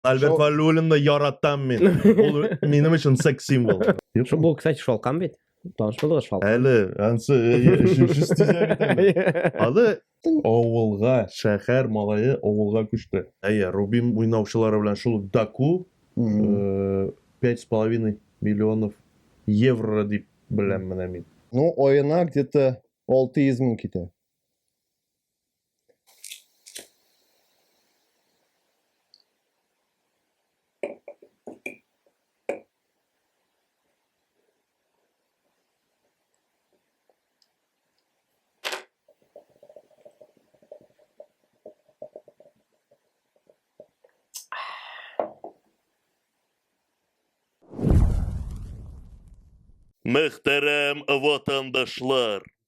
Альберт Валюлинны яратам мин. Ул минем өчен секс символ. Шо бу, кстати, шалкан бит. Таныш булдыгыз шалкан. Әле ансы шимши стизәк. Алы авылга, шәһәр малае авылга күчте. Әйе, Рубин уйнаучылары белән шул Даку э, пять с половиной миллионов евро дип беләм менә мин. Ну, оена где-то 600 мең китә. Мөхтәрәм ватандашлар!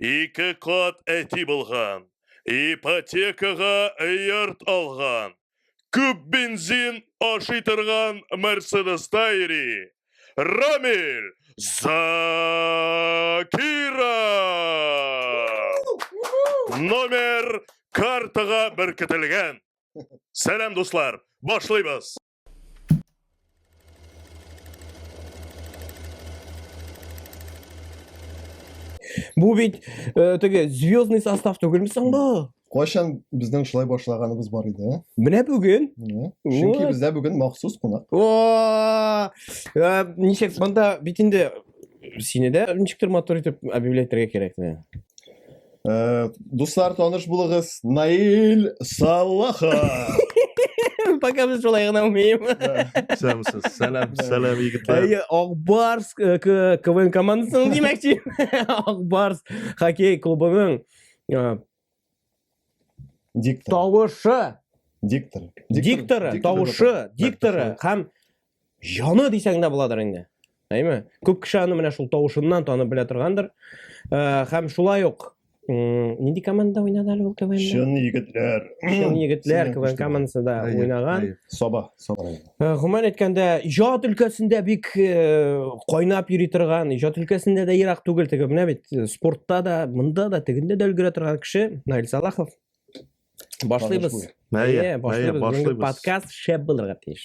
ике кат әти булган, ипотекага йорт алган, күп бензин ашый торган Мерседеста йөри. Рамиль Закиров! Номер картага беркетелгән. Сәлам, дуслар! Башлыйбыз! Бу бит э, теге звездный состав түгелме соң бу? Кайчан безнең шулай башлаганыбыз бар иде, ә? Менә бүген. Чөнки бездә бүген махсус кунак. О! Э, ничек монда бит инде сине дә ничектер мотор итеп объявлять итәргә кирәк. Э, дуслар, таныш булыгыз, Наил Салаха. Пока без шулай гына умеем. Сәмсез. Сәлам, сәлам егетләр. Әйе, Акбарс э, к- КВН командасының димәкче. Акбарс хоккей клубының э, Диктор. тавышы, Диктор. дикторы, тавышы, дикторы һәм Яны дисәң дә буладыр инде. Әйме? Күп кеше аны менә шул тавышыннан танып белә торгандыр. Э, һәм шулай ук нинди команда уйнады әле ул КВН? Чын егетләр. Чын егетләр КВН командасында уйнаган. Саба, Саба. Э, гомумән әйткәндә, иҗат өлкәсендә бик э, кайнап йөри торган, иҗат өлкәсендә дә ерак түгел теге менә бит спортта да, монда да, тегендә дә өлгерә торган кеше Наил Салахов. Башлыйбыз. Әйе, башлыйбыз. Подкаст шәп булырга тиеш.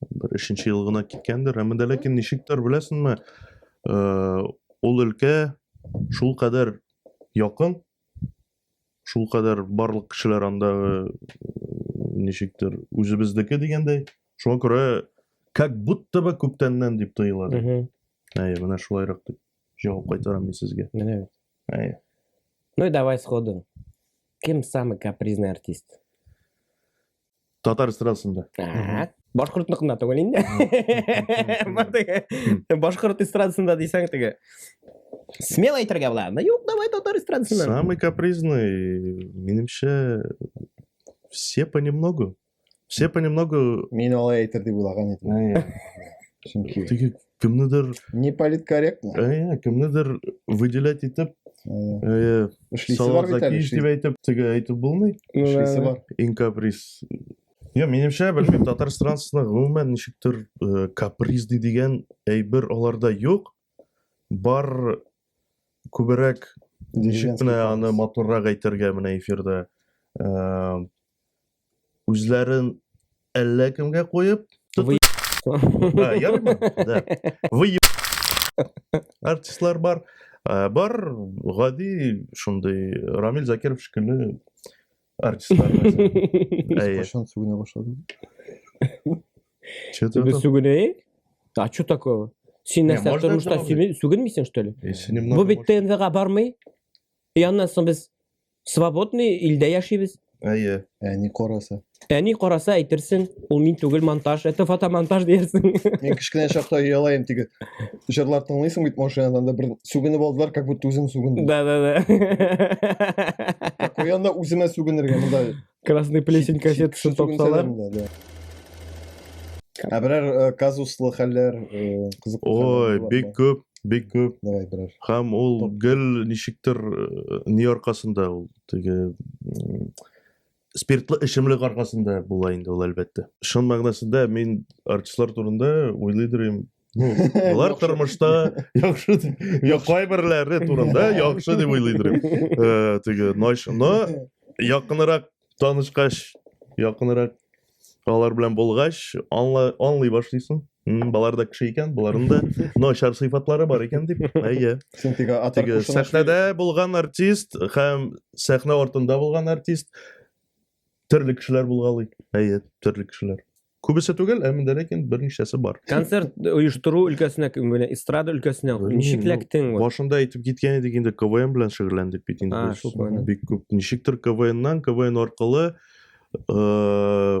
Бер өченче ел гына киткәндер, әмма дә ләкин ничектер, беләсеңме, ул өлкә шул кадәр якын, шул кадәр барлык кешеләр анда ничектер үзебездеке дигәндәй, шуңа күрә как будто бы күптәннән дип тоела. Әйе, менә шулайрак дип җавап кайтарам мин сезгә. Менә бит. Әйе. Ну и давай сходу. Кем самый капризный артист? Татар эстрадасында. Так. Башкортныкында түгел инде. Башкорт эстрадасында дисәң теге. Смело әйтергә була. Ну юк, давай татар эстрадасында. Самый капризный, минемчә, все понемногу. Все понемногу. Мин алай әйтер дип уйлаган идем. Чөнки кемнедер не политкорректно ә, кемнедер выделять итеп э, салазакиш дип әйтеп теге әйтеп булмый ну, эшлисе бар иң каприз Йо, менимчә, белмим, татар странасында гомумән ничектер э, капризный дигән әйбер аларда юк. Бар күберәк ничек кенә аны матуррак әйтергә менә эфирда. Э, Үзләрен әллә кемгә куеп, Вы... а, ярмы? Да. Вы артистлар бар. Ә, бар гади шундый Рамил Закиров шикелле артистлар. Әйе. Кашан сүгенә башладым. Чөтә. Без сүгенәйек? А что такого? Син нәрсә можно тормышта дәвам сүгенмисең, что ли? Бу бит ТНВга бармый. И аннан соң без Свободный илдә яшибез. Әйе. Әни караса. Әни караса әйтерсең, ул мин түгел монтаж, это фотомонтаж диярсең. Мин кечкенә чакта ялаем тиге. Җырлар тыңлыйсың бит машинадан да бер сүгенеп алдылар, как будто үзем сүгендем. Да, да, да. Куянда үземә сүгенергә монда Красный плесень кассет шын тапсалар. Ә берәр э, казуслы хәлләр, э, кызыклы Ой, бик күп, бик күп. Давай берәр. Һәм ул гел ничектер э, ни аркасында ул теге спиртлы эчемлек аркасында була инде ул әлбәттә. Шын мәгънәсендә мин артистлар турында уйлый дөрим, Ну, алар тормышта яхшы дип кайберләре турында яхшы дип уйлый идем. Э, теге Нойшны якынрак танышкач, якынрак алар белән булгач, аңлый башлыйсың. Балар да кеше икән, боларның да начар сыйфатлары бар икән дип. Әйе. Син теге атыркушына сәхнәдә булган артист һәм сәхнә артында булган артист Төрле кешеләр булгалый. Әйе, төрле кешеләр. Күбесе түгел, ә миндә ләкин берничәсе бар. Концерт оештыру өлкәсенә кем белән? Эстрада өлкәсенә. Белмим, Ничек ну, ләктең? вот? Башында әйтеп киткән идек инде КВН белән шөгыльләндек бит инде. А, без. шул планда. Бик күп. Ничектер КВНнан, КВН аркылы э,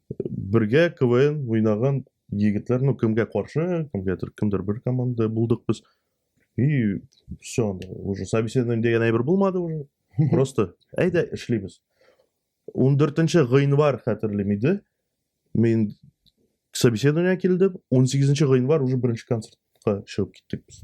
бергә КВН уйнаган егетләр, ну, кемгә каршы, кемгәдер, кемдер бер команда булдык без. И все, анда уже собеседование дигән әйбер булмады уже. Просто әйдә эшлибез. 14 гыйнвар хәтерлим иде. Мин собеседование килдем, 18 гыйнвар уже беренче концертка чыгып киттек без.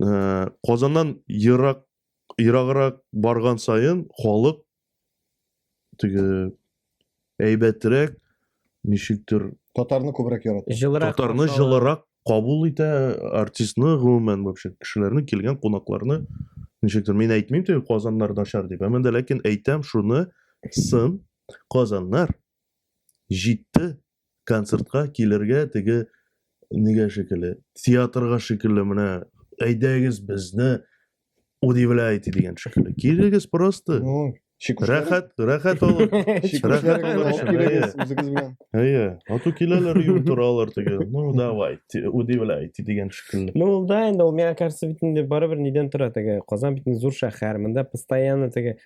Э, Казаннан ерак ераграк барган сайын халык теге әйбәтрәк ничектер Татарны күбрәк ярата. Жылырак. татарны каршы ала. жылырак кабул итә артистны гомумән вообще кешеләрне килгән кунакларны ничектер мин әйтмим теге казаннар начар дип әмма дә ләкин әйтәм шуны сын казаннар җитте концертка килергә теге нигә шикелле, театрга шикелле менә әйдәгез безне удивляйте дигән шикелле. Килегез просто. Ну, Рәхәт, рәхәт алып. Рәхәт алып килегез үзегез белән. Әйе, ату киләләр юл торалар теге. Ну, давай, удивляйте дигән шикелле. Ну, да инде ул миңа кажется бит инде барыбер нидән тора теге. Казан бит зур шәһәр, монда постоянно теге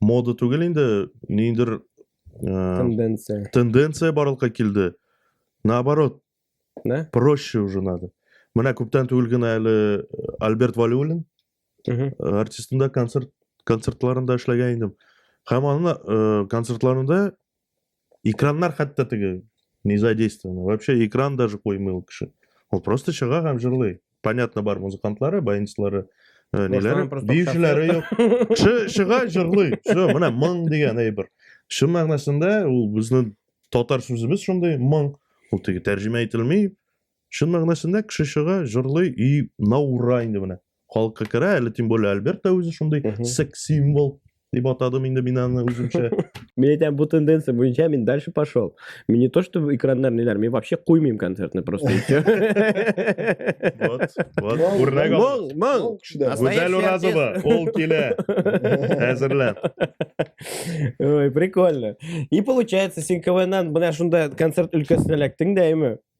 мода түгел инде ниндидер ә, тенденция тенденция барлыкка килде наоборот да проще уже надо менә күптән түгел генә әле альберт валюлин э, артистында концерт концертларында эшләгән идем һәм аны э, концертларында экраннар хәтта теге не задействованы вообще экран даже коймый ул кеше ул просто чыга һәм җырлый понятно бар музыкантлары баянчылары э, ниләре биючеләре юк чыга җырлый все менә моң дигән әйбер чын мәгънәсендә ул безнең татар сүзебез шундый моң ул теге тәрҗемә ителми Чын мәгънәсендә кеше чыга, җырлый и наура инде менә. Халыкка керә, әле тем более Альберт та үзе шундый секс символ дип атадым инде мин аны үземчә. Мин әйтәм, бу тенденция буенча мин дальше пошел. Мин не то, что экраннар ниләр, мин вообще куймыйм концертны просто. Вот, вот. Үрнәк ал. Моң, моң. Гүзәл Уразова, ул килә. Әзерләп. Ой, прикольно. И получается, син КВНнан менә шунда концерт өлкәсенә эләктең дә, әйме?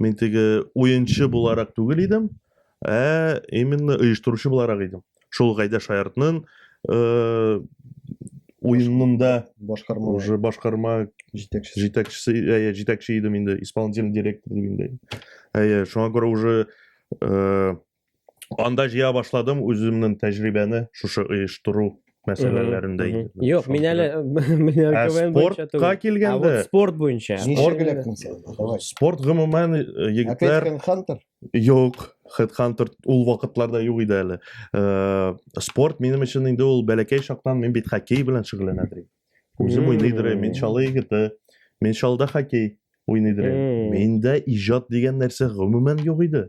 Мин теге уенчы буларак түгел идем, ә именно оештыручы буларак идем. Шул Гайдә Шаяртның э, уенында башкарма уже башкарма җитәкчесе җитәкчесе әйе җитәкче идем инде исполнительный директор дип инде әйе шуңа күрә уже э, Анда җыя башладым үземнең тәҗрибәне шушы оештыру мәсьәләләрендә. Юк, мин әле мин әле КВН буенча түгел. Спортка килгәндә. Спорт буенча. Спорт электен сен. Спорт гомумән егетләр. Опять Хантер? Юк, Хед Хантер ул вакытларда юк иде әле. Спорт минем өчен инде ул бәләкәй чактан мин бит хоккей белән шөгыльләнә дим. Үзем уйный дирем, мин чалы егете. Мин чалда хоккей уйный дирем. Миндә иҗат дигән нәрсә гомумән юк иде.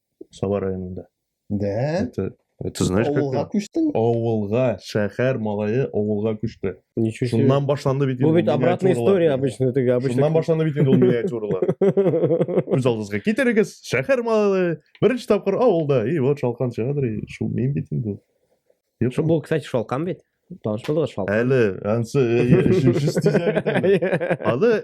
Саба районында. Да? Это, это знаешь как? Авылга күчтең? Авылга, шәһәр малае авылга күчте. Ничего себе. Шуннан башланды бит. Бу бит обратная история обычно теге обычно. Шуннан башланды бит инде ул миниатюралар. Үз алдыгызга китерегез, шәһәр малае беренче тапкыр авылда. И вот шалкан чыгадыр, и шул мин бит инде. Шул бу, кстати, шалкан бит. Таныш булдыгыз шалкан. Әле, ансы, э, э, э, аны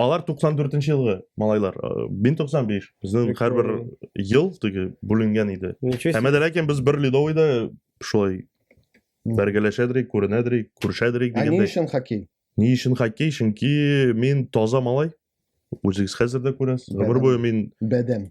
Алар 94 нче елгы малайлар. 1095. Безнең һәрбер ел теге бүленгән иде. Һәм дә ләкин без бер ледовыйда шулай бәргәләшәдерик, күренәдерик, күрешәдерик дигәндә. Ә ни өчен хоккей? Ни өчен хоккей? Чөнки мин таза малай. Үзегез хәзер дә күрәсез. Гомер буе мин бәдәм.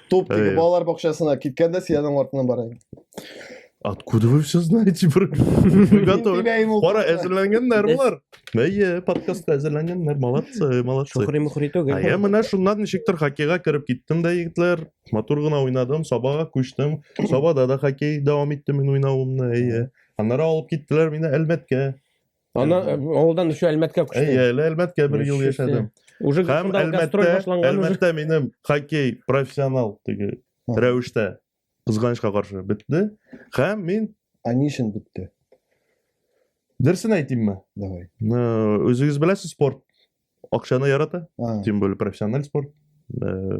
Туп тиги Эй. балалар бакчасына киткәндә сиянең артыннан барайын. Откуда вы все знаете, брат? Мы готовы. Тиләйем ул. Кара, әзерләнгәннәр болар. Әйе, подкастка әзерләнгәннәр. Молодцы, молодцы. Сухри-мухри Ә түгел. я менә шуннан ничектер хоккейга кереп киттем дә, егетләр. Матур гына уйнадым, Сабага күчтем. Сабада да хоккей дәвам иттем мин уйнавымны, әйе. Аннары алып киттеләр мине Әлмәткә. Аннан э, авылдан еще Әлмәткә күчте. Әйе, әле Әлмәткә бер ел яшәдем. Уже Һәм Әлмәттә, Әлмәттә минем хоккей профессионал теге рәвештә кызганычка каршы бетте. Һәм мин А ни өчен бетте? Дөресен әйтимме? Давай. Үзегез беләсез спорт. Акчаны ярата. Тем более профессиональ спорт. Э,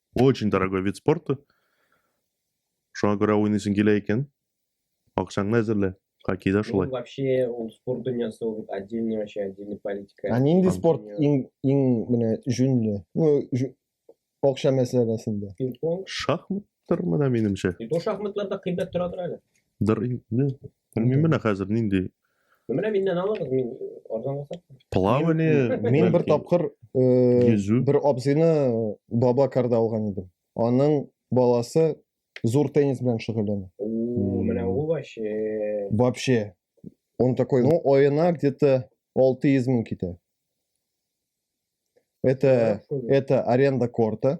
Очень дорогой вид спорта. Шуңа күрә уйныйсың килә икән, акчаңны әзерлә. Хоккейда шулай. Ну, вообще, ул спорт дөньясы ул отдельный вообще, отдельный политика. Ә нинди спорт иң иң менә җүнле? Ну, акча мәсьәләсендә. Пинг-понг. Шахматтар менә минемчә. И то шахматларда кыйбат торадыр әле. Дыр инде. Белмим менә хәзер нинди. Менә миннән алыгыз, мин арзанга сатам. Плавание. Мин бер тапкыр йөзү. Бер абзыйны баба карда алган идем. Аның баласы зур теннис белән шөгыльләнә. Менә ул вообще. Вообще. Он такой, ну, оена где-то 600 мең китә. Это, это аренда корта.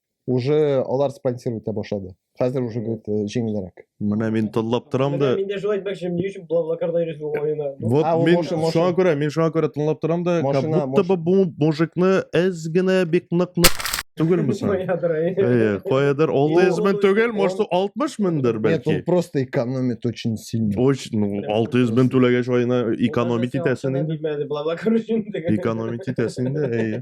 уже алар спонсировать итә башлады хәзер уже говорит э, җиңелрәк менә мин тыңлап торам да мин дә шулай әйтмәкче ни өчен блаблакарда йөрисез ул ойына вот мин шуңа күрә мин шуңа күрә тыңлап торам да как будто бы бу мужикны әз генә бик нык нык түгелме соң каядыр ол измен түгел может алтмыш мендер бәлки нет ол просто экономит очень сильно очень ну алты жүз мен түләгәч айына экономить итәсең инде экономить итәсең инде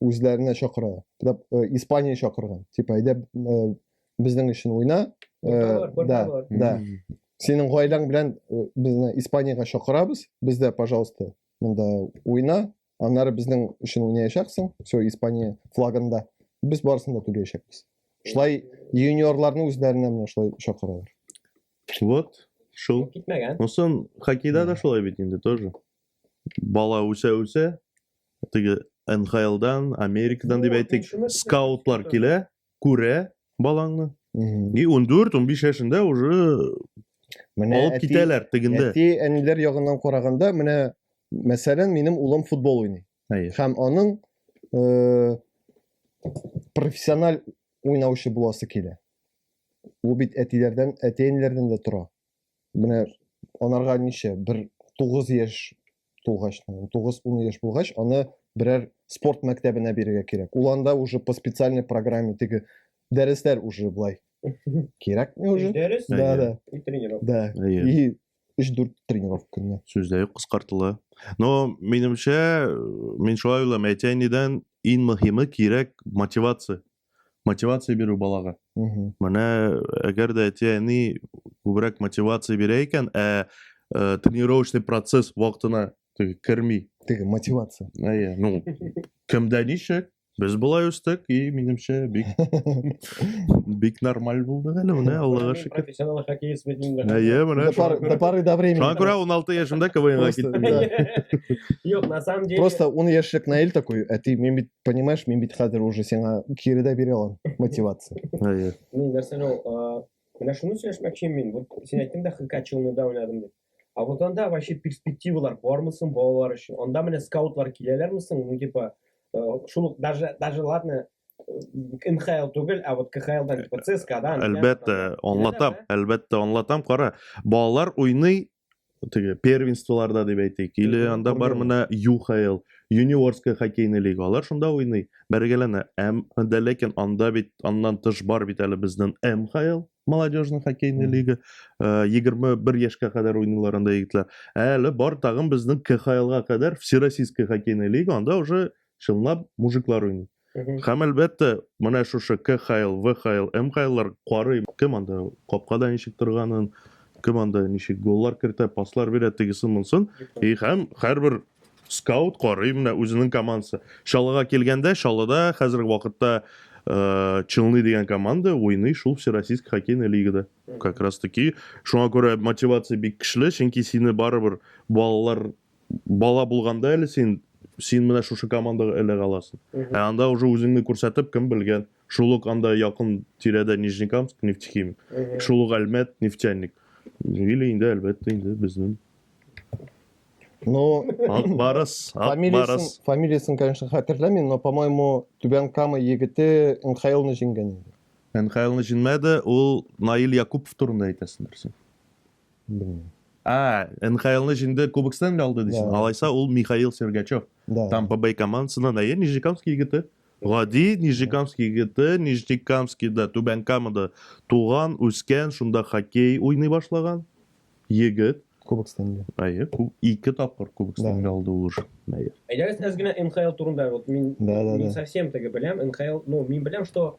үзләренә чакыра тип э, испания чакырган типа әйдә э, безнең өчен уйна э, да да синең гаиләң белән безне испаниягә чакырабыз бездә пожалуйста монда уйна аннары безнең өчен уйнаячаксың все испания флагында без барысын да түләячәкбез шулай юниорларны үзләренә менә шулай чакыралар вот шул китмәгән хоккейда да шулай бит инде тоже бала үсә үсә теге НХЛдан, Америкадан дип әйтик, скаутлар килә, күрә балаңны. И 14-15 яшендә уже менә алып китәләр тегендә. Әти әниләр ягыннан караганда, менә мәсәлән, минем улым футбол уйный. Һәм аның э, профессиональ уйнаучы буласы килә. Ул бит әтиләрдән, әти-әниләрдән дә тора. менә анарга ничә бер тугыз яшь тулгач тугыз ун яшь булгач аны берәр спорт мәктәбенә бирергә кирәк ул анда уже по специальной программе теге дәресләр уже былай кирәкми уже дәрес да да и тренировка да и өч дүрт тренировка көненә сүз дә юк кыскартыла но минемчә мин шулай уйлыйм әти әнидән иң мөһиме кирәк мотивация мотивация бирү балага менә әгәр дә әти әни күбрәк мотивация бирә икән ә э, тренировочный процесс вакытына теге керми теге мотивация әйе ну кемдә ничек без былай үстек и минемчә бик бик нормаль булды әле менә аллага шөкер профессионал хоккеист бит инде әйе менә до поры до времени шуңа күрә он алты яшемдә квнга киттем юк на самом деле просто он яшьлек наил такой әти мин бит понимаешь мин бит хәзер уже сиңа кире дә бирә алам мотивация мин нәрсә ул менә шуны сөйләшмәкче мин вот син әйттең дә хкачилныйда уйнадым дип а вот анда вообще перспективалар бармы соң балалар өчен анда менә скаутлар киләләрме соң ну типа шул ук даже даже ладно НХЛ түгел, ә вот КХЛдан, типа ЦСКАдан. Әлбәттә, аңлатам, әлбәттә, аңлатам, кара. Балалар уйный теге первенстволарда дип әйтик или анда бар менә юхл юниорская хоккейный лига алар шунда уйный бәргәләнә әм дә ләкин анда бит аннан тыш бар бит әле безнең мхл молодежный хоккейный лига э, егерме бер яшькә кадәр уйныйлар анда егетләр әле бар тагын безнең кхлга кадәр всероссийская хоккейная лига анда уже чынлап мужиклар уйный. Һәм әлбәттә, менә шушы КХЛ, ВХЛ, МХЛлар карый, кем анда капкада ничек торганын, кем анда ничек голлар кертә, паслар бирә, тегесен монсын. И һәм һәрбер скаут карый менә үзенең командасы. Чалыга килгәндә, Чалыда хәзерге вакытта э, Челны дигән команда уйный шул Всероссийск хоккейный лигада. Как раз таки шуңа күрә мотивация бик көчле, чөнки сине барыбер балалар бала булганда әле син син менә шушы командага эләгә аласың. Ә анда уже үзеңне күрсәтеп, кем белгән, шул ук анда якын тирәдә Нижнекамск, нефтехимик, шул ук Әлмәт, нефтяник. Или инде, әлбәттә, инде безнең. Ну, Акбарыс, Акбарыс. Фамилиясын, конечно, хәтерләмим, но, по-моему, Түбән Кама егете НХЛны җиңгән инде. НХЛны җиңмәде, ул Наил Якупов турында әйтәсендер син. Белмим. А, НХЛны җиңде, Кубок Стэнли алды дисең. Да. Алайса ул Михаил Сергачев. Да. Тампа Бэй командасыннан әйе, Нижнекамский егете. Гади Нижнекамский егете, Нижнекамскийда, Түбән Камада туган, үскән, шунда хоккей уйный башлаган егет. Кубок Стэнли. Әйе, кү- ике тапкыр Кубок Да. Стэнли алды ул уже. Әйе. Әйдәгез әз генә НХЛ турында вот мин Да, да, не да. совсем теге беләм НХЛ, ну мин беләм, что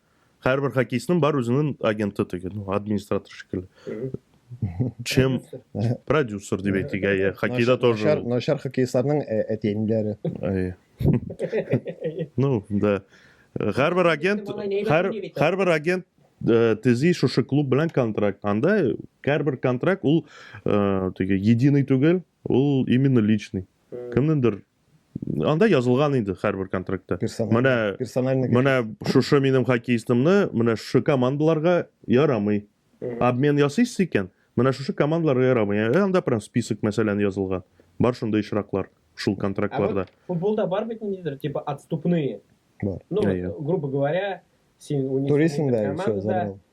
Һәрбер хоккеистның бар үзенең агенты теге, ну, администратор шикелле. Чем продюсер дип әйтик, әйе. Хоккейда тоже. Начар, начар хоккеистларның э, әтиәниләре. Әйе. Ну, да. Һәрбер агент, һәр һәрбер агент э, тези шушы клуб белән контракт. Анда һәрбер контракт ул э, теге единый түгел, ул именно личный. Кемнеңдер анда язылган инде һәрбер контрактта менә персональный менә шушы минем хоккеистымны менә шушы командаларга ярамый обмен ясыйсыз икән менә шушы командаларга ярамый ә анда прям список мәсәлән язылган бар шундый очраклар шул контрактларда ә футболда бар бит ниндидер типа отступные бар ну грубо говоря син туризмда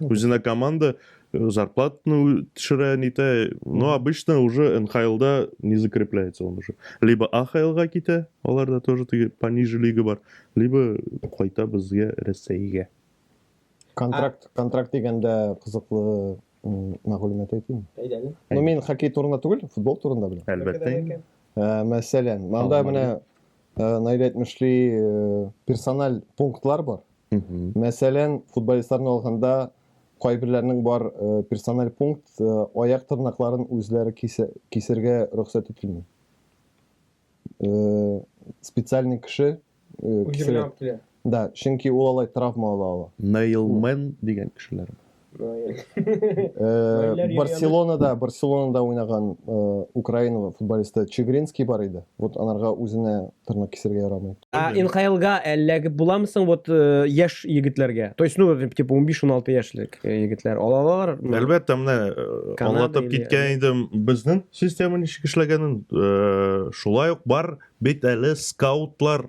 Үзенә команда э, зарплатны төшерә, нитә. Но обычно уже НХЛда не закрепляется он уже. Либо АХЛга китә, аларда тоже теге пониже лига бар, либо кайта безгә Рәсәйгә. Контракт, контракт дигәндә кызыклы м, мәгълүмат әйтим. Әйдәгез. Ну, мин хоккей турында түгел, футбол турында беләм. Әлбәттә. инде. Ә, мәсәлән, монда Алмагы. менә ә, Наилә әйтмешли, ә, персональ пунктлар бар. Мәсәлән, футболистларны алганда, кайберләрнең бар э, персональ пункт, э, аяк тырнакларын үзләре кисергә рөхсәт ителми. Э, специальный кеше кисерә. Да, чөнки ул алай травма ала ала. Нейлмен дигән кешеләр. Э, барселонада барселонада уйнаган э, украина футболисты чегринский бар иде вот анарга үзенә тырнак кисергә ярамый а нхлга эләгеп буламысың вот э, яшь егетләргә то есть ну типа он биш он алты яшьлек егетләр алалар әлбәттә менә аңлатып киткән идем безнең система ничек эшләгәнен шулай ук бар бит әле скаутлар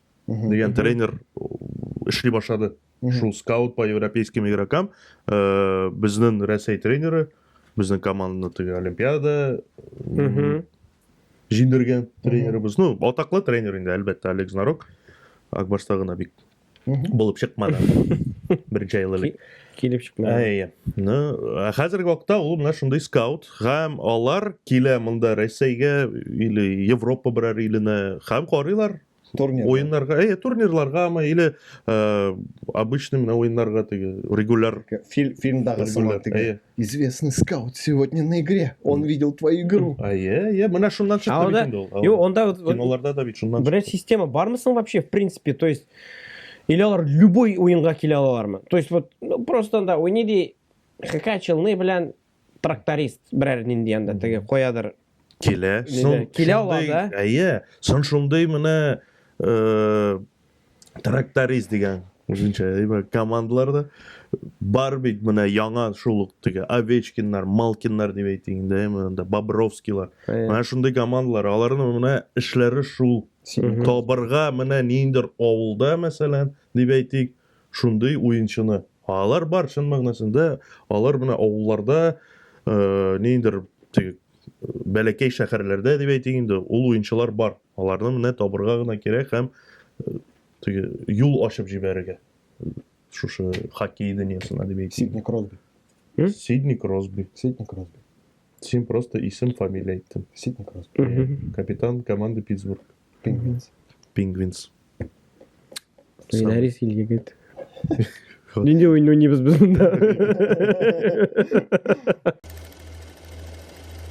дигән тренер эшли башлады. Шул скаут по европейским игрокам э, безнең Рәсәй тренеры безнең команданы теге Олимпиада җиңдергән тренерыбыз. Ну, атаклы тренер инде, әлбәттә, Олег Знарок. Акбарста гына бик булып чыкмады. Беренче ел элек. Килеп чыкмады. Әйе. Ну, ә хәзерге вакытта ул менә шундый скаут һәм алар килә монда Россиягә или Европа берәр иленә һәм карыйлар, Турнир. Уеннарга, әйе, турнирларгамы или э, обычный менә уеннарга теге регуляр. Фил, фильмдагы сыман теге. Әйе. Известный скаут сегодня на игре. Он видел твою игру. Әйе, әйе, менә шуннан чыкты бит инде ул. Юк, онда киноларда да бит шуннан. Бер система бармы соң вообще в принципе, то есть или алар любой уенга килә алалармы? То есть вот ну, просто анда уйный ди хакачылны белән тракторист берәр нинди анда теге каядыр килә. Сон, килә ала да. Әйе. Сон шундый менә э, тракторист дигән үзенчә командаларда бар бит менә яңа шул ук теге Овечкиннар, Малкиннар дип әйтик инде, монда Бобровскийлар. Менә шундый командалар, аларның менә эшләре шул. Табырга менә ниндер авылда, мәсәлән, дип әйтик, шундый уенчыны. Алар бар чын мәгънәсендә, алар менә авылларда, ниндидер теге бәләкәй шәһәрләрдә дип әйтик инде, ул уенчылар бар. Аларны менә табырга гына кирәк һәм теге юл ачып җибәрергә. Шушы хоккей дөньясына дип әйтик. Сидни Кросби. Сидни Кросби. Сидни Кросби. Син просто исем, фамилия әйттең. Ситник Росс. Капитан команды Питтсбург. Пингвинс. Пингвинс. Минарис ил егет. Нинди уен уйныйбыз без монда?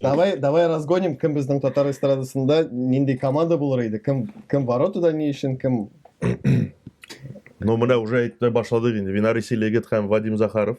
Давай, давай разгоним, кем безнең татар эстрадасында нинди команда булыр иде? Кем кем воротада ни өчен, кем Ну, менә уже әйтә башладык инде. Винарис ил егет һәм Вадим Захаров.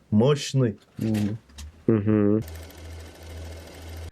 Мощный. Угу.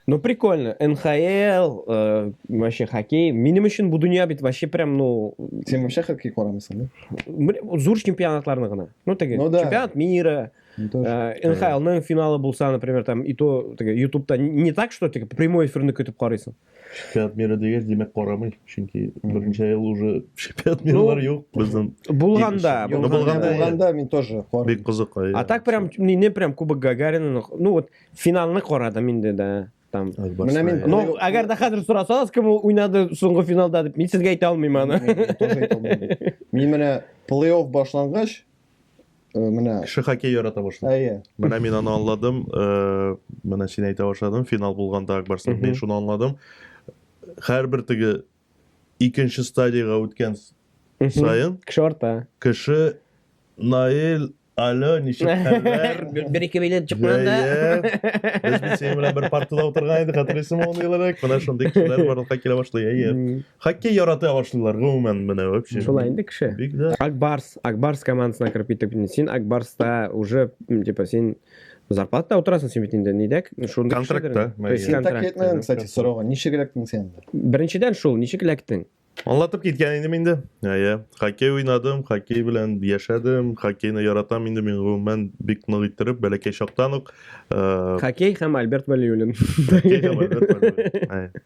Ну, прикольно. НХЛ, э, вообще хоккей. Минем өчен бу дөнья бит вообще прям, ну... Сен вообще хоккей карамыйсың, да? Зур чемпионатларны гына. Ну, теге, ну, да. чемпионат мира, ну, э, НХЛның финалы булса, например, там, и то, теге, ютубта не так, что, теге, прямой эфирны көтеп карыйсың. Шикаят бирә дигәч, димәк карамый, чөнки берничә ел уже шикаят бирүләр юк. Безнең Булганда, Ну, булганда. булганда, Булганда мин тоже карыйм. бик кызыка. А так прям не, не прям Кубок Гагарина, ну вот финалны карадым инде да. Там. Менә мин- Но Ой, әгәр дә хәзер сорасагыз, кем ул уйнады соңгы финалда дип, мин сезгә әйтә алмыйм аны. Мин тоже әйтә алмыйм. Мин менә плей-офф башлангач, Э, менә кеше хоккей ярата башлый әйе менә мин аны аңладым э, менә син әйтә башладың финал булганда акбарстан мин шуны аңладым һәрбер теге икенче стадияга үткән саен кеше арта кеше наил Алло, ничек хәлләр? Бер ике билет чыкмаганда. Без бит синең белән бер партада утырган идек, хәтерлисеңме аны елрак? Менә шундый кешеләр барлыкка килә башлый, әйе. Хоккей ярата башлыйлар гомумән менә вообще. Шулай инде кеше. Бик дә. Акбарс, Акбарс командасына кереп китеп, син Акбарста уже, типа, син зарплатада утырасың син бит инде, нидә? Шундый контрактта. Син так китмәдең, кстати, сорауга. Ничек эләктең сен? Беренчедән шул, ничек эләктең? Аңлатып киткән идем инде. Әйе, хоккей уйнадым, хоккей белән яшәдем, хоккейны яратам инде мин гомумән бик нык иттереп, бәләкәй чактан ук. Хоккей һәм Альберт Валиуллин. Хоккей һәм Альберт Валиуллин.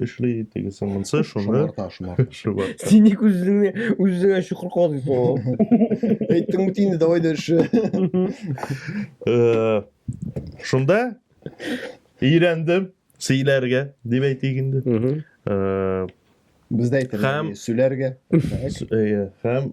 эшли тегесе монсы шуны шомарта шомарта шомарта син ник үзеңне үзеңә чокыр казыйсың ул әйттең бит инде давай дальше шунда өйрәндем сөйләргә дип әйтик инде бездә әйтелгән сөйләргә һәм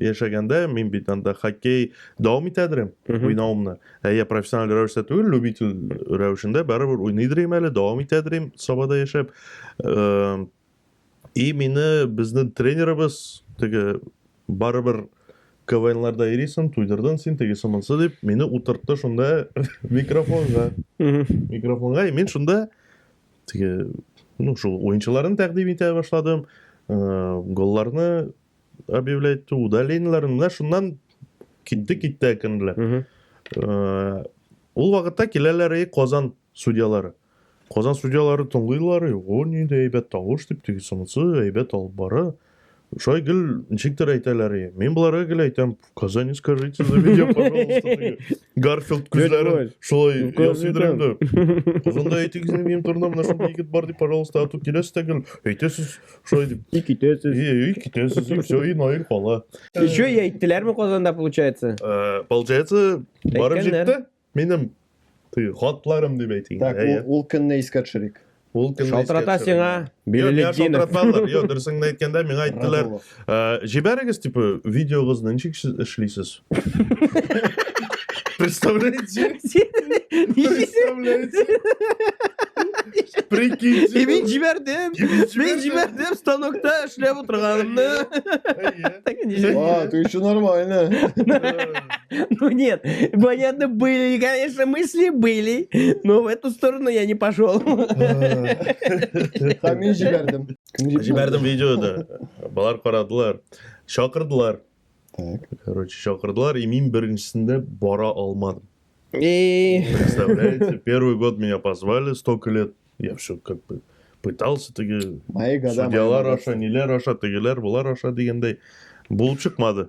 яшәгәндә мин бит анда хоккей дәвам итәдер уйнавымны ә я профессиональ рәвештә түгел любитель рәвешендә барыбер уйныйдыр әле дәвам итәдер идем сабада яшәп э, и мине безнең тренерыбыз теге барыбер КВНларда йөрисең, туйдырдың син, тегесе монсы дип, мине утыртты шунда микрофонга. микрофонга, и мин шунда теге, ну, шул уенчыларын тәкъдим итә башладым, э, голларны объявлять удалениларын менә шуннан китте китте әкренләп э, ул вакытта киләләр и казан судьялары казан судьялары тыңлыйлар и о нинди әйбәт тавыш дип тегесе монысы әйбәт алып бара шулай гел ничектер әйтәләр и мин боларга гел әйтәм Казани скажите за меня, пожалуйста. Гарфилд күзләрен шулай ясыйдырымды. Озында әйтегез инде минем турында менә шундый егет бар дип, пожалуйста, ату киләсез тәгел. Әйтәсез шулай дип. И китәсез. И, и китәсез. И все, и Наил кала. Еще и әйттеләрме Казанда получается? Э, получается, барып җитте. Минем теге хатларым дип әйтик. Так, ул, ул көнне искә төшерик. Ул көнне Шалтырата сиңа Билелетдинов. Шалтыраталар. Йо, дөресеңне әйткәндә миңа әйттеләр, җибәрегез типа видеогызны ничек эшлисез? Представляете? Представляете? Прикиньте. И мин җибәрдем. Мин җибәрдем станокта эшләп утырганымны. А, ты еще нормально. Ну нет, понятно, были, конечно, мысли были, но в эту сторону я не пошел. Һәм мин җибәрдем. Кем җибәрде? Җибәрдем видеода. Балар карадылар. Чакырдылар. Так. Короче, чакырдылар, и мин беренчесендә бара алмадым. И... Представляете, первый год меня позвали, столько лет. Я все как бы пытался, теге Мои года. мои судьялар богатства. аша, ниләр аша, тегеләр, болар аша дигәндәй. Булып чыкмады.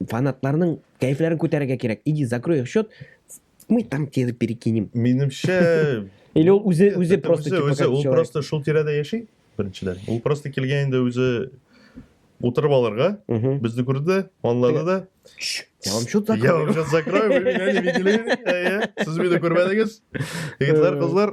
фанатларның кәефләрен күтәрергә кирәк. Иди, закрой их счет, мы там тебе перекинем. Минемчә... Или ул үзе, үзе просто... Үзе, үзе, ул просто шул тирәдә яши, беренчедән. Ул просто килгән инде үзе утырып алырга, безне күрде, анлады да. Я вам счет закрою. Я вам счет закрою, вы меня не видели. Сез мине күрмәдегез. Егетләр, кызлар,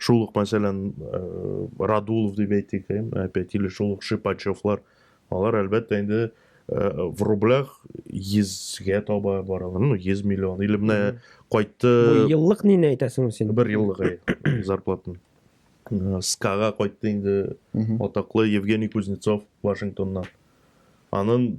Шул ук, мәсәлән, Радулов дип әйтик, опять, или шул ук Шипачевлар, алар, әлбәттә, инде в рублях йөзгә таба баралар, ну, йөз миллион, или менә кайтты... Бу еллык нине әйтәсең син? Бер еллык, әй, зарплатын. Скага кайтты инде атаклы Евгений Кузнецов Вашингтоннан. Анын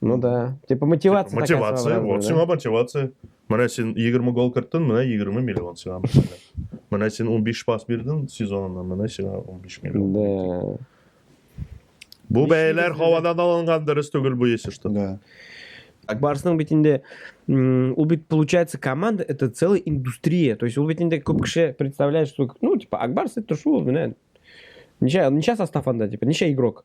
Ну да. Типа мотивация. Типа, мотивация. Вот, сиңа мотивация. Менә син 20 гол керттең, менә 20 миллион сиңа. Менә син 15 пас бирдең сезонына, менә сиңа 15 миллион. Да. Бу бәяләр һавадан алынган дөрес түгел бу если что. Да. Так барысының бит инде ул бит получается команда это целая индустрия. То есть ул бит инде күп кеше представляет, что ну типа Акбарс это шул, менә. Ничә, ничә состав анда, типа, ничә игрок?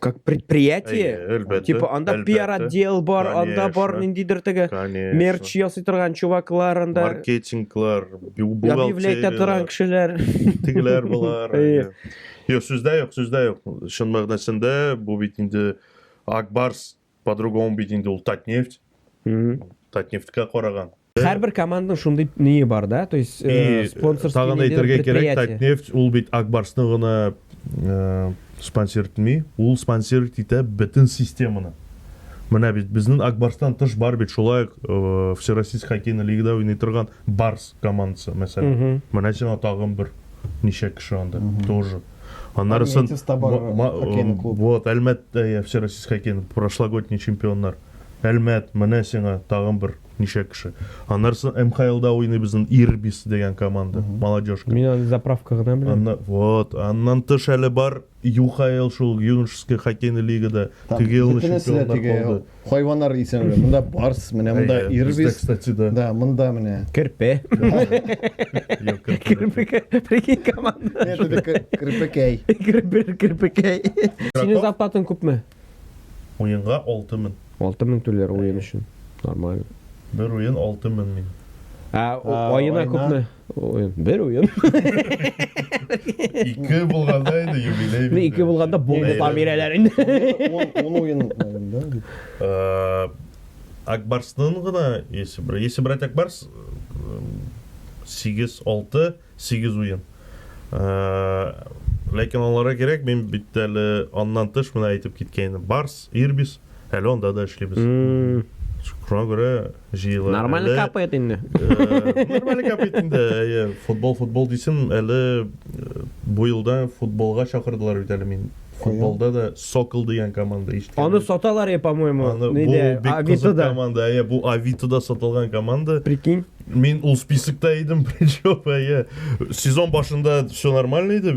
как предприятие әлбәттә, типа анда әлбәттә, пиар отдел бар конечно, анда бар ниндидер теге мерч ясый торган чуваклар анда маркетинглар объявлять торган кешеләр тегеләр болар юк сүздә юк сүздә юк чын мәгънәсендә бу бит инде акбарс По-другому бит инде ул Татнефть. Татнефтькә караган. Һәрбер команданың шундый ние бар да, то есть э, спонсорский Тагын әйтергә кирәк, Татнефть ул бит Акбарсны гына э, спонсор итми, ул спонсор итә бөтен системаны. Менә бит безнең Акбарстан тыш бар бит шулай ук э, Всероссийск хоккейный лигада уйный торган Барс командасы, мәсәлән. Менә сиңа тагын бер ничә кеше анда тоже. Аннары сон вот Әлмәт всероссийский хоккейный прошлогодний чемпионнар. Әлмәт, менә сиңа тагын бер ничә кеше. Аннары сон МХЛда уйный безнең Ирбис дигән команда, молодежка. Мин аны заправка гына беләм. Анна, вот, аннан тыш әле бар ЮХЛ шул, юношеский хоккейный лигада ТГЛны чемпионнар булды. Хайваннар исән үлә. Монда барс, менә монда Әйе, ирбис. бездә, кстати, да. Да, монда менә. Керпе. Юк, Керпе, прикинь, команда. Нет, это кер- керпекәй. Керпе, керпекәй. Синең зарплатаң күпме? Уенга 6000. 6000 түләр уен өчен. Нормально. Бер уен 6000 мин. Ә, о- А, аена айына? күпме? Уен. Бер уен. Ике булганда инде юбилей. Бер ике булганда булды там ирәләр инде. Ул уен инде. Э, Акбарсның гына есе бер. Есе брать Акбарс 8 6 8 уен. Э, ләкин аларга кирәк, мин бит әле аннан тыш менә әйтеп киткән Барс, Ирбис, әле анда да эшлибез. Шуңа күрә җыела. Нормаль капает инде. Нормаль капает инде. Әйе, футбол, футбол дисем, әле бу елда футболга чакырдылар бит әле мин. Футболда да Сокол дигән команда ишеткән. Аны саталар я, по-моему. Нидә? Авитода. Команда, әйе, бу Авитода сатылган команда. Прикинь. Мин ул списокта идем, причем, әйе. Сезон башында все нормально иде.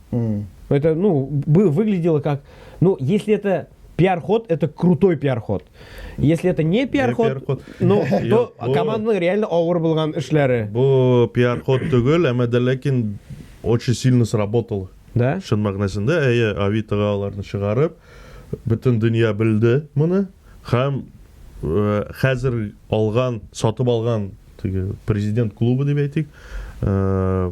Mm. Это, ну, бы выглядело как, ну, если это пиар-ход – это крутой пиар-ход. Если это не пиар-ход, пиар ну, то командның реально ауыр булган эшләре. Бу пиар-ход түгел, әмма дә ләкин очень сильно сработало. Да? Шын мәгънәсендә, әйе, Авитага аларны чыгарып, бөтен дөнья белде моны, һәм э, хәзер алган, сатып алган президент клубы дип әйтик, э,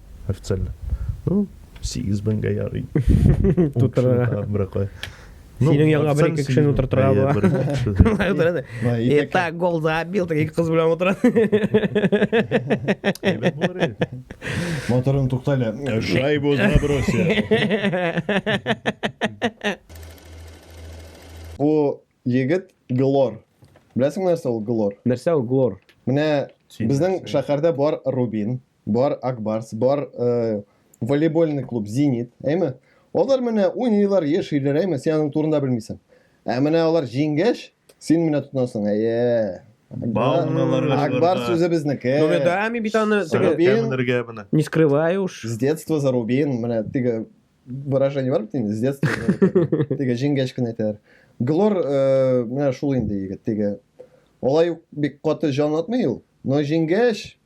официально. Ну, сигез меңгә ярый. Тутырырга. Бирә куй. Ну, Синең янга бер ике кешене утыртырга була. Бер ике кеше. Былай утыра да. Былай, итәк. Это гол забил, так ике кыз белән утыра. Әйбәт булыр иде. Моторын тукта әле. Шайбу забросил. Бу егет Глор. Беләсең нәрсә ул Глор? Нәрсә ул Глор? Менә Син безнең нәрсә? шәһәрдә бар Рубин. Бар Акбарс, бар э, волейбольный клуб Зенит, әйме? Алар менә уйныйлар, яшиләр, әйме? Син аның турында белмисең. Ә менә алар җиңгәч, син менә тотынасың. Әйе. Бауналарга Акбар сүзе безнеке. Ну, мен, да, мин бит аны теге, Кемнергә менә. не скрываю уж. С детства за Рубин, менә теге выражение бар бит инде, с детства. Теге җиңгәч кенә әйтәләр. Глор, э, менә шул инде егет, теге. Алай ук бик каты җан атмый ул, но җиңгәч,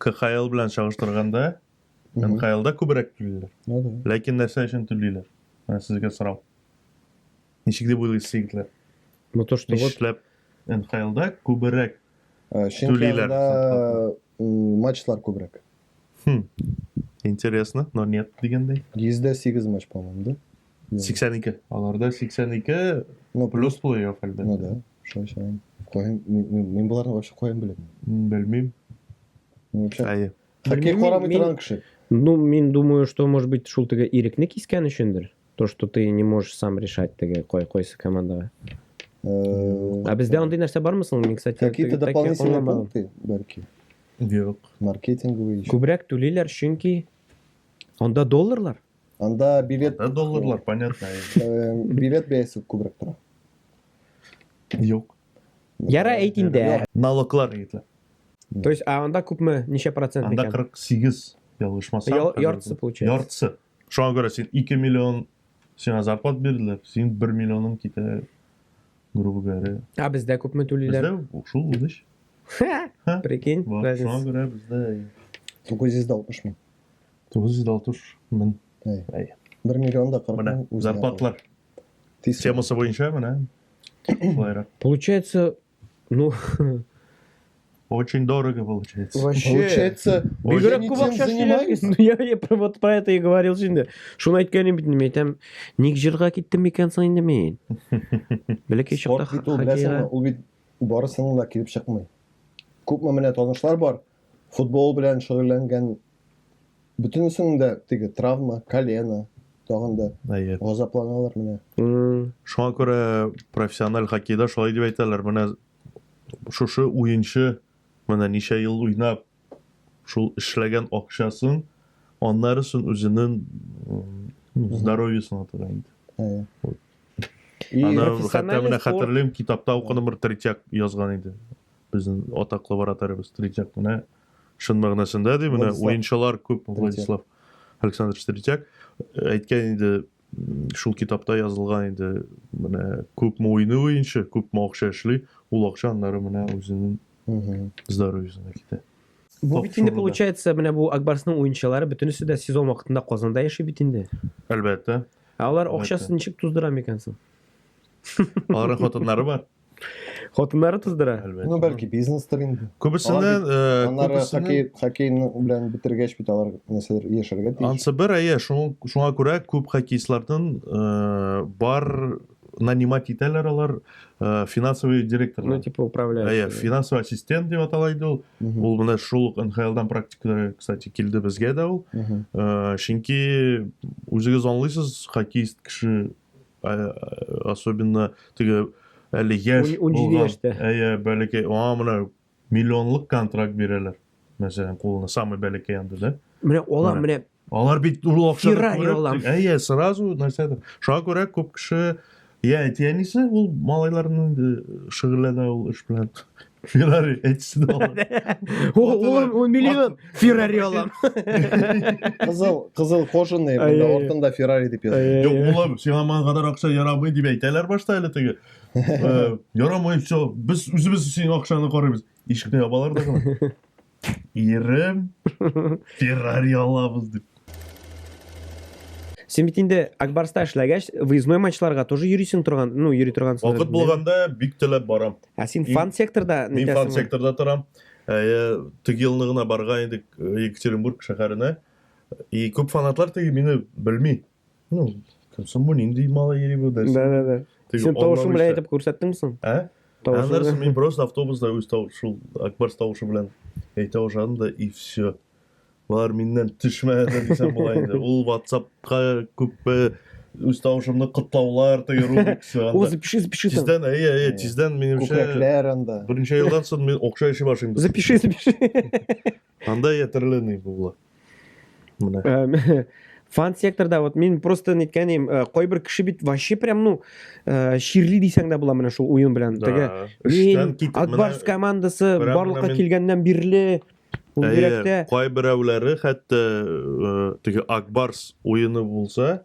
КХЛ белән чагыштырганда, НХЛда күбрәк түлиләр. Ну да. Ләкин нәрсә өчен түлиләр? Менә сезгә сорау. Ничек дип уйлыйсыз, егетләр? Ну то, что вот Нишләп НХЛда күбрәк? Э, Чөнки Түлиләр. анда м, матчлар күбрәк. Хм. Интересно, но нет дигәндәй. 108 матч, по-моему, да? 82. Аларда 82 ну, плюс плей-офф әлбәттә. Ну да, шулай саныйм. Каян мин боларны вообще каян беләм? Белмим. Ну, вообще. Әйе. Хоккей карамый торган кеше. Ну, мин думаю, что, может быть, шул теге ирекне кискән өчендер. То, что ты не можешь сам решать теге кой койсы командага. Э, а бездә андый нәрсә бармы соң? Мин, кстати, какие-то дополнительные пункты, бәлки. Юк. Маркетинговый. Күбрәк түлиләр, чөнки анда долларлар. Анда билет... Анда долларлар, понятно. Э, билет бәясе күбрәк тора. Юк. Яра әйт инде. Налоглар әйтә. То есть, а анда күпме, ничә процент Анда 48 ялгышмасам. Яртысы получается. Яртысы. Шуңа күрә син 2 миллион сиңа зарплат бирделәр, син 1 миллионың китә, грубо говоря. А бездә күпме түлиләр? Бездә шул үдеш. Прикинь, разница. Шуңа күрә бездә 960 мең. 960 мең. Әй. Әй. 1 миллион да 40 мең үзе. Зарплатлар. Тиз. Темасы буенча менә. Шулайрак. Получается, ну, Очень дорого получается. Вообще. Получается, бигрәк күп акча эшләгез. Ну я я про вот про это и говорил инде. Шуны әйткәнем бит мин әйтәм, ник җырга киттем микән соң инде мин? Бәләкәй чакта хоккейга. Ул бит барысының да килеп чыкмый. Күпме менә танышлар бар, Футбол белән шөгыльләнгән бөтенесенең дә теге травма, колено, тагын да Әйе. газапланалар менә. Шуңа күрә профессиональ хоккейда шулай дип әйтәләр. Менә шушы уенчы менә ничә ел уйнап, шул эшләгән акчасын, аннарысын үзенең здоровьесына тора инде. Әйе. Вот. И Аны хәтта профессиональный менә спорт. хәтерлим, китапта укыдым, бер третьяк язган иде. Безнең атак лабораториябез Третьяк менә чын мәгънәсендә ди, менә уенчылар күп Владислав Александрович Третьяк әйткән инде шул китапта язылган инде менә күпме уйный уенчы, күпме акча эшли, ул акча аннары менә үзенең здоровьесына китә. Бу бит инде получается, менә бу Акбарсның уенчылары бөтенесе дә сезон вакытында Казанда яши бит инде. Әлбәттә. Алар акчасын ничек туздыра микән соң? Аларның хатыннары бар. Хатыннары туздыра. Әлбәттә. Ну, бәлки бизнестыр инде. Күбесеннән, э, Аннары күбесеннән- хоккей, хоккейны белән бетергәч бит алар нәрсәләр яшәргә тиеш. Ансы бер, әйе, шуң- шуңа күрә күп хоккеистлардан э, бар нанимать итәләр алар э, финансовый Ну, директорлар. типа, управляющий. Әйе, финансовый ассистент дип атала иде ул. Мгм, Ул менә шул ук НХЛдан практика, кстати, килде безгә дә ул. мгм. Э, Чөнки үзегез аңлыйсыз, хоккеист кеше особенно теге әле яшь булган әйе бәләкәй аңа менә миллионлык контракт бирәләр мәсәлән кулына самый бәләкәй анда да менә алар менә алар бит ул акчаны әйе сразу нәрсәдер шуңа күрә күп кеше я әти әнисе ул малайларның шөгыльләнә ул эш белән Феррари әйтсен алам. Ул миллион Феррари алам. Кызыл, кызыл кожаный, монда ортында Феррари дип язылган. Юк, улым, сиңа ман кадәр акча ярамый дип әйтәләр башта әле теге. Ярамый, все, без үзебез синең акчаны карыйбыз. Ишекне ябалар да гына. Ирем, Феррари алабыз дип. Син бит инде Акбарста эшләгәч, выездной матчларга тоже йөрисең торган, ну, йөри торган. Вакыт булганда бик теләп барам. Ә син фан секторда нитәсең? Мин фан секторда торам. Ә, теге елны гына барга идек э, Екатеринбург шәһәренә. И күп фанатлар теге мине белми. Ну, Сомбуни инди мала ери бу дәрсе. Да, да, да. Син тавышың белән әйтеп күрсәттең соң? Ә? Тавышың. Мин просто автобуста үз тавышым, Акбарс тавышы белән әйтә башладым да и все. Бар миннән төшмәде дисәм була инде. Ул WhatsApp-ка күп үз тавышымны котлаулар теге рубик все. Ул запиши, запиши. Тиздән, әйе, әйе, тиздән минемчә. Күкрәкләр анда. Беренче елдан соң мин окша эше башлыйм. Запиши, запиши. Анда ятерлыный булла. Менә. Э, фан секторда вот мин просто неткәнем э, кайбер кеше бит вообще прям ну э, чирли дисәң дә була менә шул уен белән теге мин акбарс командасы барлыкка килгәннән бирле ул йөрәктә кайберәүләре хәтта теге акбарс уены булса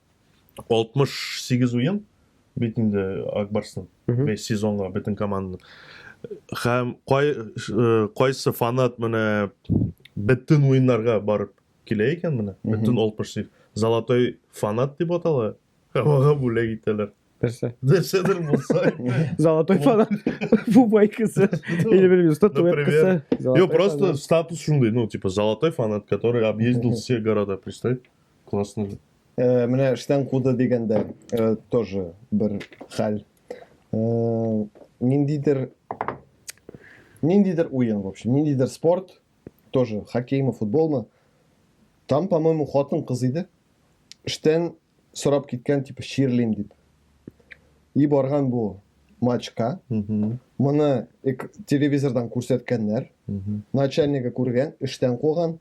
68 уен бит инде Ак Барстан. 5 сезонга бөтен команда. Һәм кай кайсы фанат менә бөтен уеннарга барып килә икән менә. Бөтен 68 золотой фанат дип атала. Һавага бүләк итәләр. Нәрсә? Нәрсәдер булса. Золотой фанат. Бу байкасы. Или белмим, статуэткасы. Йо, просто статус шундый, ну, типа, золотой фанат, который объездил все города, представь. Классно. Э, менә эштән куды дигәндә э, тоже бер хәл. Э, ниндидер ниндидер уен, в общем, ниндидер спорт, тоже хоккеймы, футболмы. Там, по-моему, хатын кыз иде. Эштән сорап киткән, типа, чирлим дип. И барган бу матчка. Моны телевизордан күрсәткәннәр. Начальнигы күргән, эштән куган.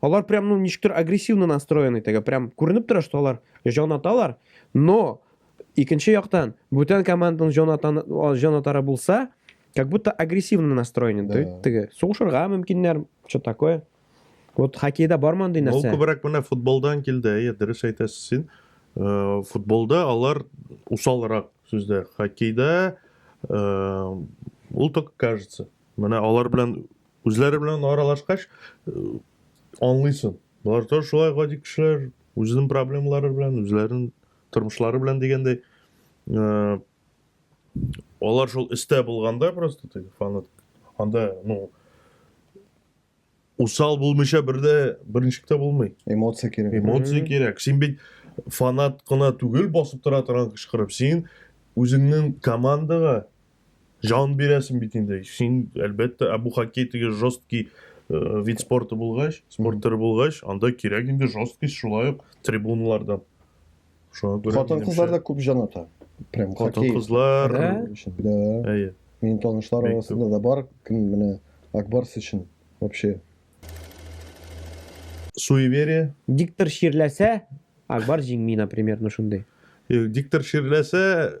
Алар прям, ну, ничектер агрессивно настроены теге, прям күренеп тора, что алар җанаталар, но икенче яктан бүтән команданың җанатан җанатары булса, как будто агрессивно настроены да. теге. Сугышырга мөмкиннәр, что такое. Вот хоккейда бар мондый нәрсә. Ул күбрәк менә футболдан килде, әйе, дөрес әйтәсез син. Э, футболда алар усалрак сүздә. Хоккейда э, ул только кажется. Менә алар белән Үзләре белән аралашкач, аңлыйсың. Болар да шулай гади кешеләр, үзенең проблемалары белән, үзләренең тормышлары белән дигәндәй. Алар шул истә булганда просто теге фанат анда, ну, усал булмыйча бердә беренчектә булмый. Эмоция кирәк. Эмоция кирәк. Син бит фанат кына түгел басып тора торган кычкырып, син үзеңнең командага Җан бирәсең бит инде. Син, әлбәттә, ә бу хоккей теге жесткий э, вид спорты булгач, спорт төре булгач, анда кирәк инде жесткость шулай ук трибуналарда. Шуңа күрә Хатын минемчә, кызларда күп җаната. Прям хоккей. Хатын-кызлар. Ә? өчен. Да. Әйе. Минем танышлар Бик арасында да бар, кем менә Акбарс өчен вообще. Суеверие. Диктор чирләсә, Акбар җиңми, например, ну шундый. Э, Диктор чирләсә,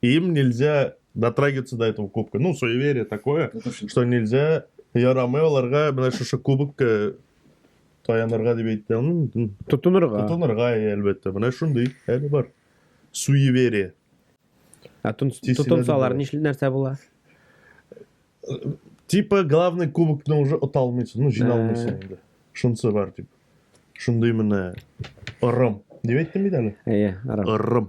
Им нельзя дотрагиваться до этого кубка. Ну, суеверие такое, что нельзя ярамый оларға мына шушы кубокка таянырга дип әйтте. Тотынырга. Тотынырга, әлбәттә. Менә шундый әле бар. Суеверие. Ә тотынсалар нишли нәрсә була? Типа главный кубокны уже ота алмыйсың, ну җина алмыйсың э. инде. Шунысы бар дип. Шундый менә ырым. Дип әйттем бит әле. Әйе, ырым. Ырым.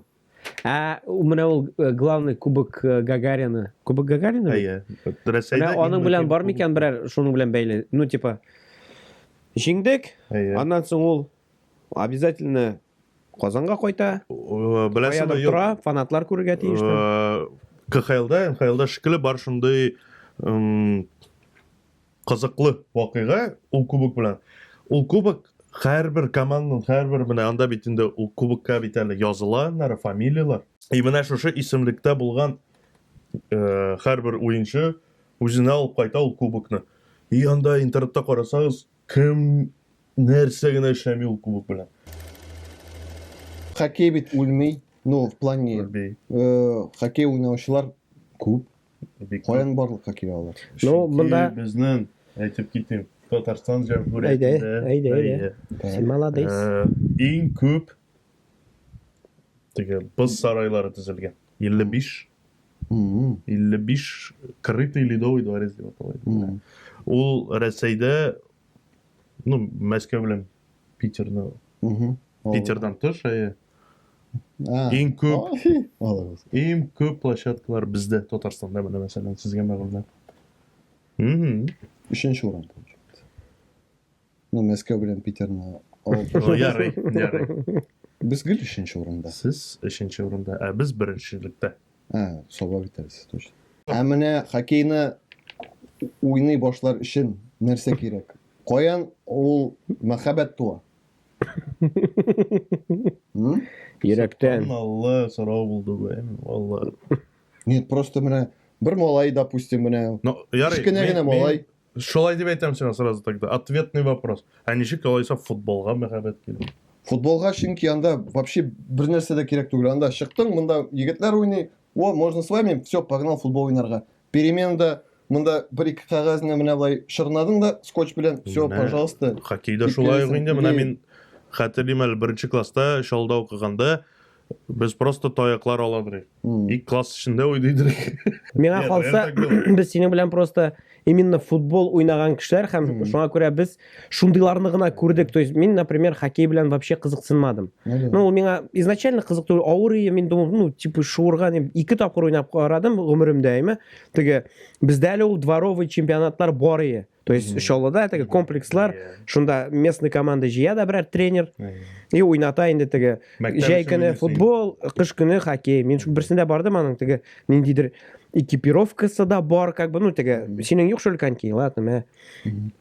Ә менә ул э, главный кубок э, Гагарина. Кубок Гагарина? Әйе. Рәсәйдә аның белән бар микән берәр шуның белән бәйле? Ну типа җиңдек. Аннан соң ул обязательно Казанга кайта. Э, Беләсеңме, тора, фанатлар күрергә тиеш. КХЛда, МХЛда шикелле бар шундый Кызыклы вакыйга ул кубок белән. Ул кубок һәрбер команданың, һәрбер менә анда бит инде ул кубокка бит әле языла аннары фамилияләр. И менә шушы исемлектә булган һәрбер уенчы үзенә алып кайта ул кубокны. И анда интернетта карасагыз, кем нәрсә генә эшләми ул кубок белән. Хоккей бит үлми, ну в плане, хоккей уйнаучылар күп. Каян барлыкка килә алар? Ну, монда безнең әйтеп китим, Татарстан Җәмһүриятендә. Әйдә, әйдә. Син молодец. Э, иң күп теге боз сарайлары төзелгән. 55 55 крытый ледовый дворец дип атала. Ул Рәсәйдә ну, Мәскәү белән Питерны Питердан тыш, әйе. Иң күп Иң күп площадкалар бездә Татарстанда менә мәсәлән сезгә мәгълүмат. Өченче урын. Ну, Мәскәү белән Питерны Ярый, ярый. Без гел өченче урында. Сез өченче урында, ә без беренчелектә. А, саба битәрсез точно. Ә менә хоккейны уйный башлар өчен нәрсә кирәк? Каян ул мәхәббәт туа? Йөрәктән. Алла сорау булды бу, алла. Нет, просто менә бер малай, допустим, менә. Ну, ярый. Кечкенә генә малай. Шулай дип әйтәм сиңа сразу тогда. Ответный вопрос. Ә ничек алайса футболга мәхәббәт килде? Футболга чөнки анда вообще бер нәрсә дә кирәк түгел. Анда чыктың, монда егетләр уйный. О, можно с вами? Все, погнал футбол уйнарга. Переменада монда бер-ике кәгазьне менә болай чорнадың да скотч белән, все, пожалуйста. Хоккейда шулай ук инде, менә мин хәтерлим әле беренче класста Чалда укыганда без просто таяклар ала идек. Ик класс эчендә уйный идек. Миңа калса, без синең белән просто именно футбол уйнаган кешеләр һәм шуңа күрә без шундыйларны гына күрдек то есть мин например хоккей белән вообще кызыксынмадым ну ул миңа изначально кызык түгел авыр ием мин думал ну типа шуырга ике тапкыр уйнап карадым гомеремдә әйме теге бездә әле ул дворовый чемпионатлар бар ие то есть чаллыда теге комплекслар шунда местный команда җыя да берәр тренер и уйната инде теге җәй көне футбол кыш көне хоккей мин берсендә бардым аның теге ниндидер экипировкасы да бар как бы ну теге синең юк шул коньки ладно мә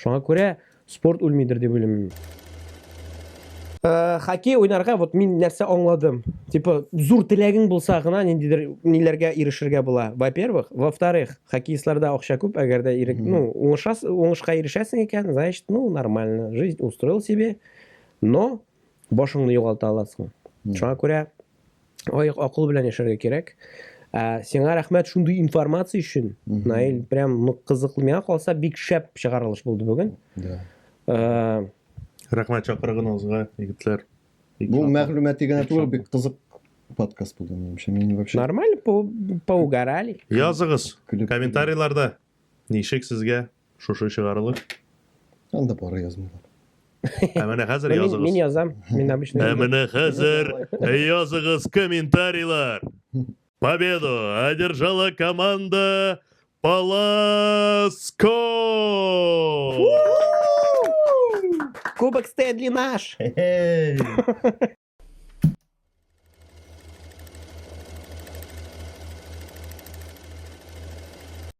Шуңа күрә спорт үлмидер дип уйлыйм мин. Э, хоккей уйнарга вот мин нәрсә аңладым типа зур теләгең булса гына ниндидер ниләргә ирешергә була во первых во вторых хоккеистларда акча күп әгәр дә ирек ну уңышас уңышка ирешәсең икән значит ну нормально жизнь устроил себе но башыңны югалта аласың шуңа күрә Ай, акыл белән яшәргә кирәк. Ә, сиңа рәхмәт шундый информация өчен. Наил, прям ну кызыклы миңа калса бик шәп чыгарылыш булды бүген. Да. Ә, Рәхмәт чакырыгыгызга, егетләр. Бу мәгълүмати генә түгел, бик кызык подкаст булды минемчә. Мин вообще Нормально по поугарали. Языгыз комментарийларда. Ничек сезгә Шушы чыгарылыш. Анда пара язмыйлар. Ә менә хәзер Мин, языгыз. мин язам. Мин обычно. Ә менә хәзер языгыз комментарийлар. Победу одержала команда Паласко! Кубок Стэнли наш. Хе-хей.